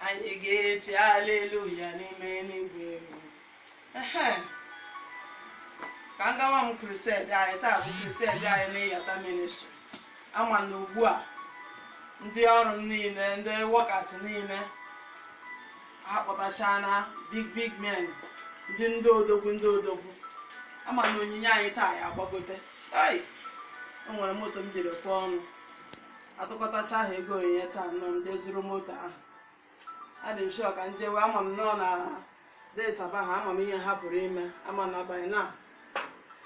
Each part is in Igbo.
anyị ga-eti aleluya n'ime eluigwe Ehe. ka m gawa m crusade anyị taa bụ crusade anyị n'Iyata ministry ama m na ugbu a ndị ọrụ m niile ndị workers niile akpọtachana big big men ndị ndị odogwu ndị odogwu ama m na onyinye anyị taa ya agbagote ai o nwere moto m jere kwuo ọnụ atụkọtacha ha ego onyinye taa nọ m jee zụrụ moto ahụ adị m sure ka m jewe ama m nnọọ na Desaba ha ama m ihe ha pụrụ ime ama m na abalị na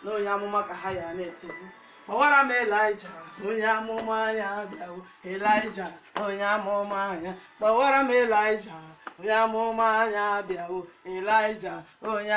na onye amụma ka ha ya na-etiku kpọwara m elija onye amụma ya bịawo elija onye amụma ya kpọwara m elija onye amụma ya bịawo elija onye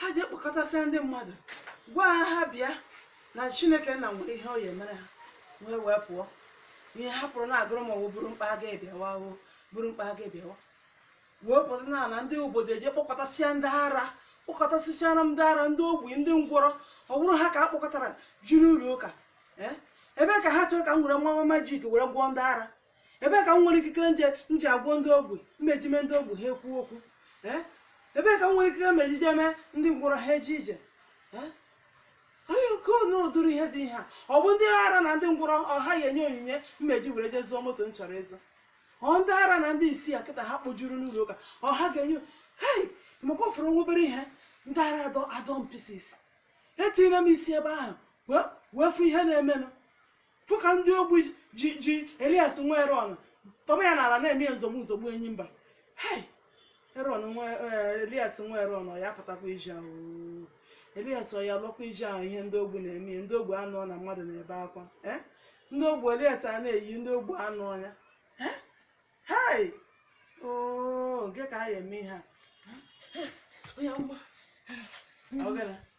ha jee kpọkọtasịa ndị mmadụ gwa ha ha bịa na chineke nna nwere ihe ọ ya emere ha wee wee pụọ ihe ha pụrụ na-agụrụ m o ọ bụrụ mkpa aga ebiawa o bụrụ mkpa aga ebiawa wee pụta na na ndị obodo eje kpọkọtasịa ndị ara kpọkọtasịchara ndị ara ndị ogbi ndị ngwọrọ ọ bụrụ ha ka a kpọkọtara juru ụlọ ụka ee ebee ka ha chọrọ ka m were nwa magic were gwọọ ndị ara ebee ka m nwere ikikere nje nji agwọ ndị ogbi m eji mee ndị ogbi ha ekwu okwu ee ebee ka m nwere ikikere m eji jee mee ndị ngwọrọ ha eje ije ee onye nke onye ụdịrị ihe dị ihe a ọ bụ ndị ara na ndị ngwọrọ ọ ha ya enye onyinye m eji were jee zụọ moto m chọrọ ịzụ ọ ndị ara na ndị isi a kịta ha kpojuru n'ụlọ ụka ọ ha ga-enye hei maka ọ fọrọ nwa obere ihe ndị ara adọọ adọọ m pieces etinyere m isi ebe ahụ wee wee fụ ihe na-emenụ fụ ka ndị ogbu ji ji elias nwa eron tọba ya n'ala na-eme ya nzogbu nzogbu enyi mba hei eron nwa eh, elias nwa eron ọ ya apụtakwa iji ahụ oo. elias ọ ya lụkwa iji ahụ ihe ndị ogbu na-eme ya ndị ogbu anụ na mmadụ na-ebe akwa eh? ndị ogbu elias a na-eyi ndị ogbu anụ ọnya Eh? hei oo kee ka a ya eme ihe a Onye amụma. Ọ gara.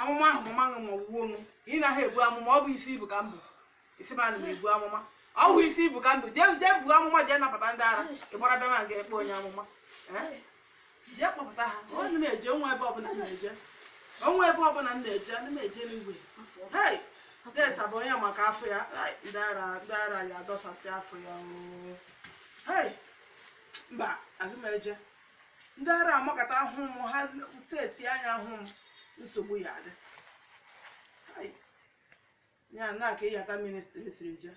amụma ahụ mama ṅụ ma ọgwụgwọ ṅụ ị naghị ebu amụma ọ bụ isi ibu ka m bụ isi m ana m ebu amụma ọ bụ isi ibu ka m bụ jee jee buo amụma jee napụta ndị ara ị gbara bịa ma ga-ekpe onye amụma Eh? jee kpọpụta ha ọ na m eje o nwe ebe ọbụla m na-eje onwe ebe ọbụla m na-eje ana m eje n'igwe hei Desaba onye maka afọ ya Ai, ndị ara ndị ara ya adọsasị afọ ya oo. hei mba aga m eje ndị ara amakọta ahụ m ha set anya ahụ m nsogbu ya adị Hai. ya na ka Iyata ministry siri jee